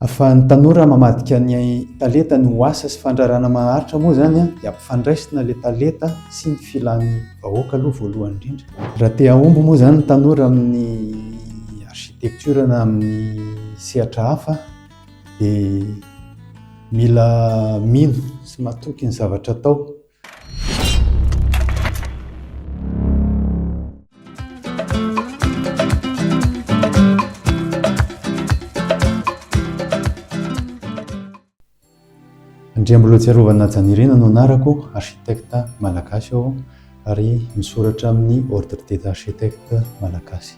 Ahafahan'ny tanora mamadika ny talentany ho asa sy fandraharahana maharitra moa izany dia ampifandraisina ilay talenta sy ny filan'ny vahoaka aloha voalohany indrindra. Raha te hahomby moa izany ny tanora amin'ny architecture na amin'ny sehatra hafa dia mila mino sy matoky ny zavatra atao Andriambolotsiarovana Janirina no anarako, architecte malagasy aho ary misoratra amin'ny Ordre des architectes malagasy.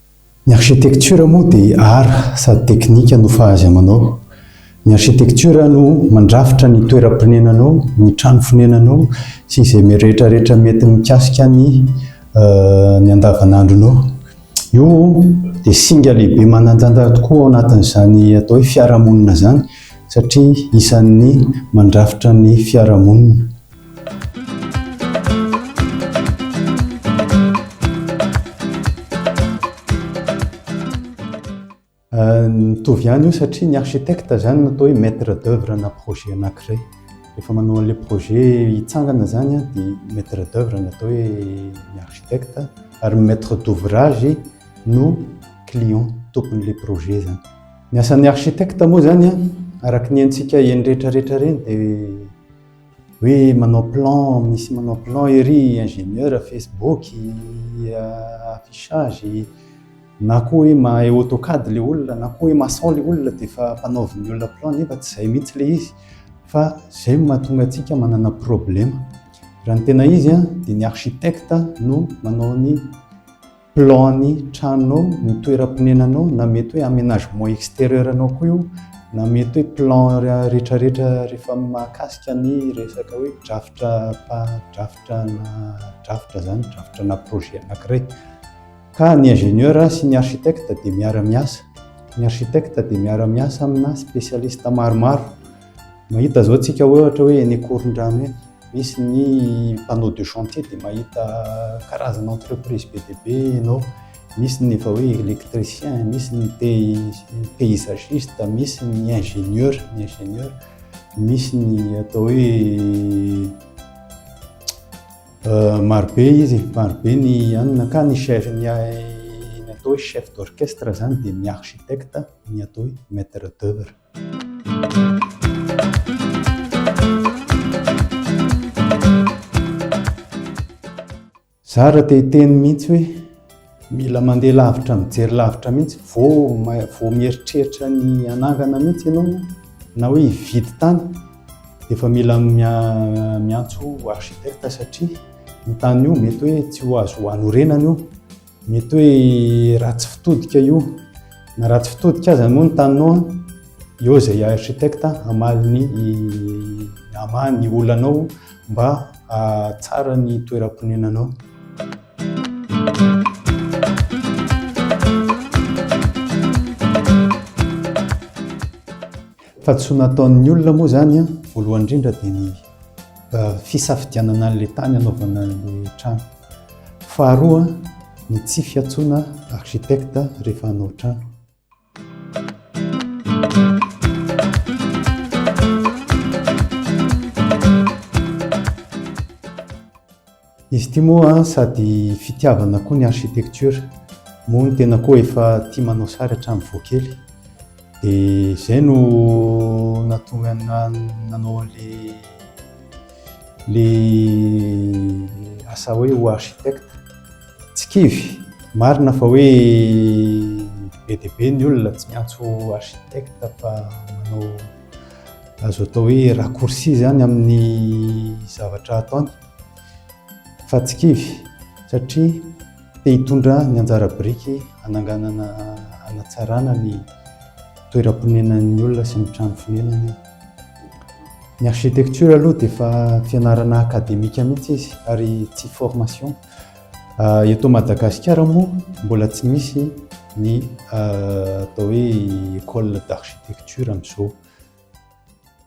Ny architecture moa dia art sady teknika no fahazy amanao. Ny architecture no mandrafitra ny toeram-ponenanao, ny trano fonenanao sy izay rehetra rehetra mety mikasika ny ny andavanandronao. Io dia singa lehibe manan-tantara tokoa ao anatin'izany atao hoe fiarahamonina izany satria isan'ny mandrafitra ny fiarahamonina. Mitovy ihany io satria ny architecte izany no atao hoe maître d'œuvre ana projet anankiray. Rehefa manao an'ilay projet hitsangana izany dia maître d'œuvre no atao hoe ny architecte ary ny maître d'ouvrage no client, tompon'ilay projet izany. Ny asan'ny architecte moa izany araka ny haintsika eny rehetra rehetra ireny dia Hoe manao plan, misy manao plan ery ingénieur Facebook, affichage, na koa hoe mahay AutoCAD ilay olona, na koa hoe maçon ilay olona dia efa mpanaovin'ny olona plan nefa tsy izay mihitsy ilay izy. Fa izay no mahatonga antsika manana problème. Raha ny tena izy dia ny architecte no manao ny plan ny tranonao, ny toeram-ponenanao na mety hoe aménagement extérieur anao koa io na mety hoe plan rehetrarehetra rehefa mahakasika ny resaka hoe drafitra drafitra na drafitra izany drafitra na projet anankiray ka ny ingénieur sy ny architecte dia miara-miasa ny architecte dia miara-miasa amina spécialiste maromaro Mahita izao tsika hoe ohatra hoe eny Ankorondrano eny, misy ny panneau de chantier dia mahita karazana entreprise be dia be ianao, misy ny efa hoe électricien, misy ny paysagiste, misy ny ingénieur, ny ingénieur, misy ny atao hoe euh, marobe izy, marobe ny anona ka ny chef ny atao hoe chef d'orchestre zany dia ny architecte, ny atao hoe maître d'œuvre. Zara te hiteny mihitsy hoe mila mandeha lavitra mijery lavitra mihitsy vao vao mieritreritra ny hanangana mihitsy ianao na hoe hividy tany dia efa mila miantso architecte satria ny tany io mety hoe tsy ho azo hanorenana io. Mety hoe ratsy fitodika io. Na ratsy fitodika aza moa ny taninao, eo izay architecte hamaly ny hamaha ny olanao mba hahatsara ny toeram-ponenanao. Fa tsy ho nataon'ny olona moa izany voalohany indrindra dia ny fisafidianana an'ilay tany hanaovana an'ilay trano. Faharoa ny tsy fiantsoana architecte rehefa hanao trano. Izy ity moa sady fitiavana koa ny architecture, moa ny tena koa efa tia manao sary hatramin'ny vao kely. Dia izay no nahatonga nanao an'ilay le asa hoe ho architecte. Tsy kivy, marina fa hoe be dia be ny olona tsy miantso architecte fa manao azo atao hoe raccourci izany amin'ny zavatra ataony. fa tsy kivy satria te hitondra ny anjara biriky hananganana hanatsarana ny toeram-ponenan'ny olona sy ny trano fonenany. Ny architecture aloha dia efa fianarana akademika mihitsy izy ary tsy formation. Ah, eto Madagasikara moa mbola tsy misy ny ah, atao hoe école d'architecture amin'izao.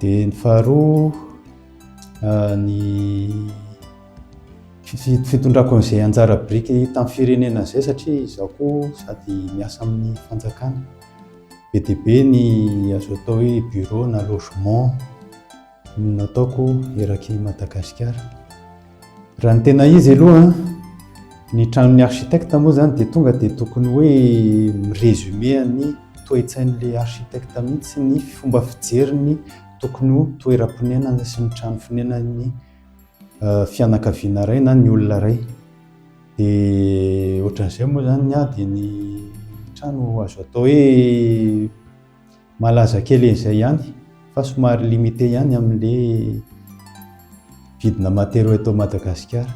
Dia ny faharoa, ny fitondrako an'izay anjara biriky tamin'ny firenena izay satria izaho koa sady miasa amin'ny fanjakana. Be dia be ny azo atao hoe bureau na logement no nataoko eraky Madagasikara. Raha ny tena izy aloha, ny tranon'ny architecte moa izany dia tonga dia tokony hoe mi-resumer ny toe-tsain'ilay architecte mihitsy ny fomba fijeriny tokony ho toeram-ponenana sy ny trano fonenan'ny eh, fianakaviana iray na ny olona iray. Dia ohatran'izay moa izany ny ahy dia ny trano azo atao hoe Malaza kely an'izay ihany fa somary limité ihany amin'le vidina matériaux eto Madagasikara.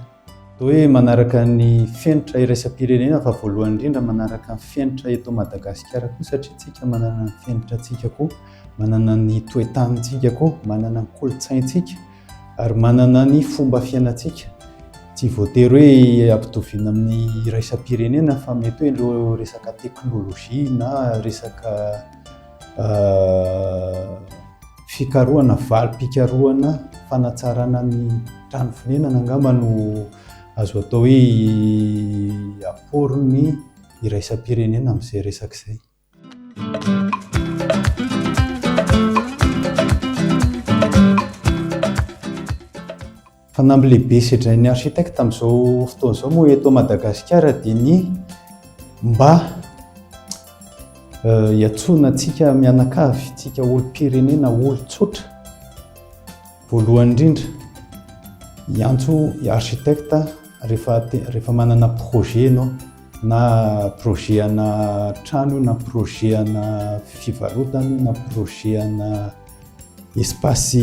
Toa hoe manaraka ny fenitra iraisam-pirenena fa voalohany indrindra manaraka ny fenitra eto Madagasikara koa satria tsika manana ny fenitra tsika koa, manana ny toe-tanintsika koa, manana ny kolontsaintsika, Ary manana ny fomba fiainantsika. Tsy voatery hoe ampitoviana amin'ny iraisam-pirenena fa mety hoe ireo resaka teknolojia na resaka fikarohana, valim-pikarohana fanatsarana ny trano fonenana angamba no azo atao hoe aporin'ny iraisam-pirenena amin'izay resaka izay. Fanamby lehibe sedrain'ny architecte amin'izao fotoana izao moa eto Madagasikara dia ny mba hiantsoana antsika mianakavy, antsika olom-pirenena, olon-tsotra. Voalohany indrindra, hiantso i architecte rehefa te- rehefa manana projet ianao, na projet ana trano io, na projet ana fivarotana io, na projet ana espace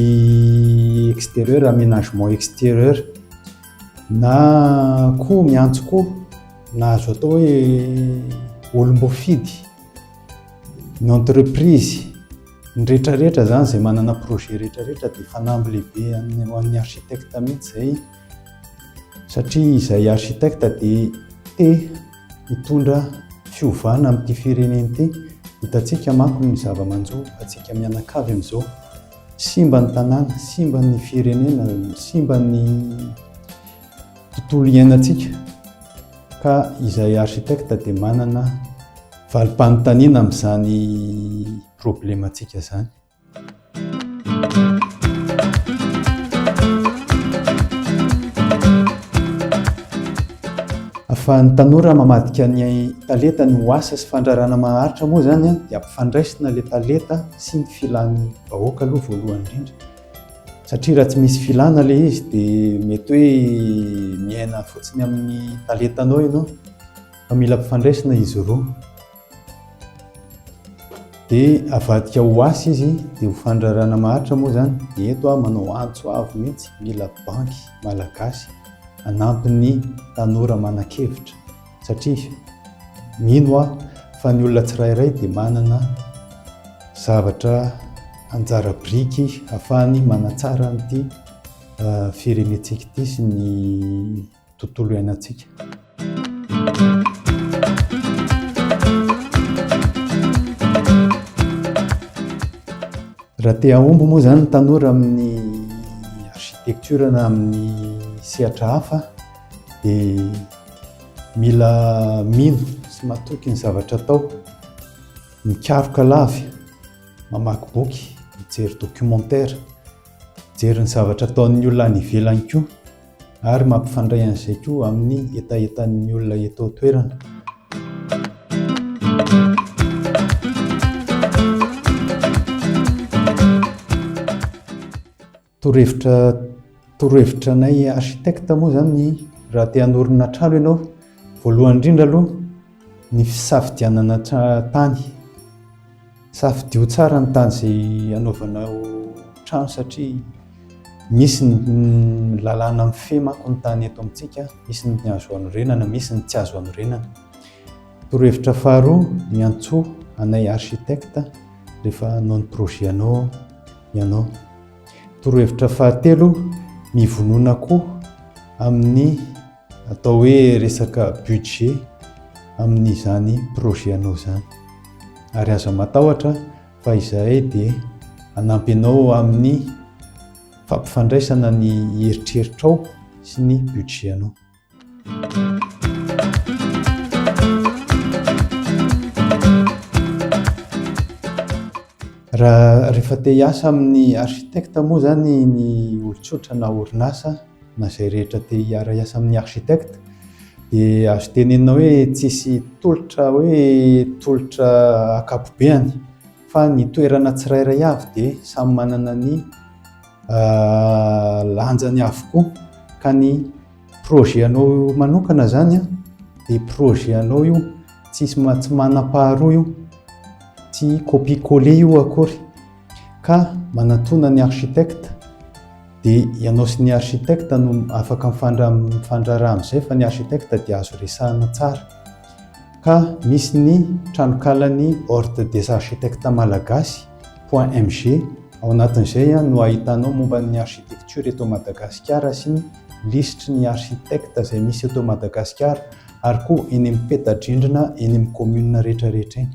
extérieur, aménagement extérieur, na koa miantso koa na azo atao hoe olom-boafidy, ny entreprise. Ny rehetra rehetra zany izay manana projet rehetra rehetra dia fanamby lehibe an'ny ho an'ny architecte mihitsy izay satria izay architecte dia te hitondra fiovana amin'ity firenena ity hitantsika manko ny zava-manjo atsika mianakavy amin'izao simba ny tanàna simba ny firenena simba ny tontolo iainantsika ka izay architecte dia manana valim-panontaniana amin'izany problemantsika izany. Fa ny tanora mamadika ny talenta ny ho asa sy fandrarana maharitra moa izany dia ampifandraisina ilay talenta sy ny filan'ny vahoaka aloha voalohany indrindra. Satria raha tsy misy filana ilay izy dia mety hoe miaina fotsiny amin'ny talentanao ianao fa mila mpifandraisina izy roa. Dia avadika ho asa izy dia ho fandrarana maharitra moa izany. Dia eto aho manao antso avo mihitsy, mila banky malagasy hanampy ny tanora manan-kevitra. Satria mino aho fa ny olona tsirairay dia manana zavatra anjara biriky afahany manatsara an'ity firenentsika ity sy ny tontolo iainantsika. Raha te hahomby moa izany ny tanora amin'ny architecture na amin'ny sehatra hafa, dia mila mino sy matoky ny zavatra atao, mikaroka lavy, mamaky boky, mijery documentaire, mijery ny zavatra ataon'ny olona any ivelany koa ary mampifandray an'izay koa amin'ny hetahetan'ny olona eto an-toerana. Torohevitra torohevitra anay architecte moa zany ny raha te hanorina trano ianao, voalohany indrindra aloha ny fisafidianana tany. Safidio tsara ny tany izay anaovanao trano satria misy ny lalàna mifehy manko ny tany eto amintsika, misy ny azo anorenana, misy ny tsy azo anorenana. Torohevitra faharoa, miantsoa anay architecte rehefa hanao ny projet anao. ianao. Torohevitra fahatelo, mivonona koa amin'ny atao hoe resaka budget amin'izany projet anao izany. Ary aza matahotra fa izahay dia hanampy anao amin'ny fampifandraisana ny eritreritrao sy ny budget anao. Raha rehefa te hiasa amin'ny architecte moa zany ny olon-tsotra na orinasa na izay rehetra te hiara-hiasa amin'ny architecte dia azo tenenina hoe tsisy tolotra hoe tolotra ankapobeny fa ny toerana tsirairay avy dia samy manana ny lanjany avokoa ka ny projet anao manokana zany dia projet anao io tsisy tsy manam-paharoa io tsy copie coller io akory ka manatona ny architecte dia ianao sy ny architecte no afaka mifandraraha amin'izay fa ny architecte dia azo resahana tsara ka misy ny tranonkalan'ny ordre des architectes malagasy Point MG, Ao anatin'izay no ahitanao momba ny architecture eto Madagasikara sy ny lisitry ny architectes izay misy eto Madagasikara ary koa eny amin'ny peta-drindrina eny amin'ny commune rehetrarehetra eny.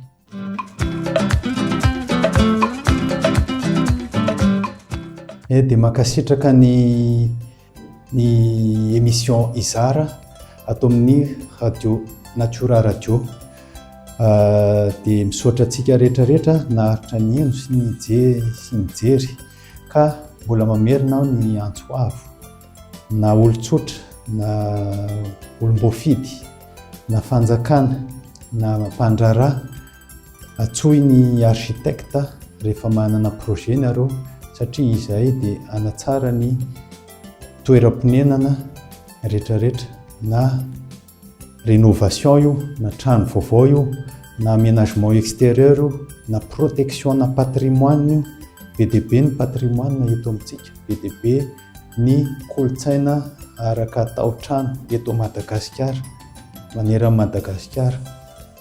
Eh dia mankasitraka ny. Ny émission Izara ato amin'ny Radio Natura Radio. Dia misaotra antsika rehetra rehetra naharitra nihaino sy nijery sy nijery ka mbola mamerina aho ny antso avo na olon-tsotra na olom-boafidy na fanjakana na mpandraharaha Antsoy ny architecte rehefa manana projet nareo satria izahay dia hanatsara ny toeram-ponenana retraretra na rénovation io na trano vaovao io na aménagement extérieur io na protection na patrimoine io be dia be ny patrimoine eto amintsika be dia be ny kolontsaina araka taotrano eto Madagasikara maneran'i Madagasikara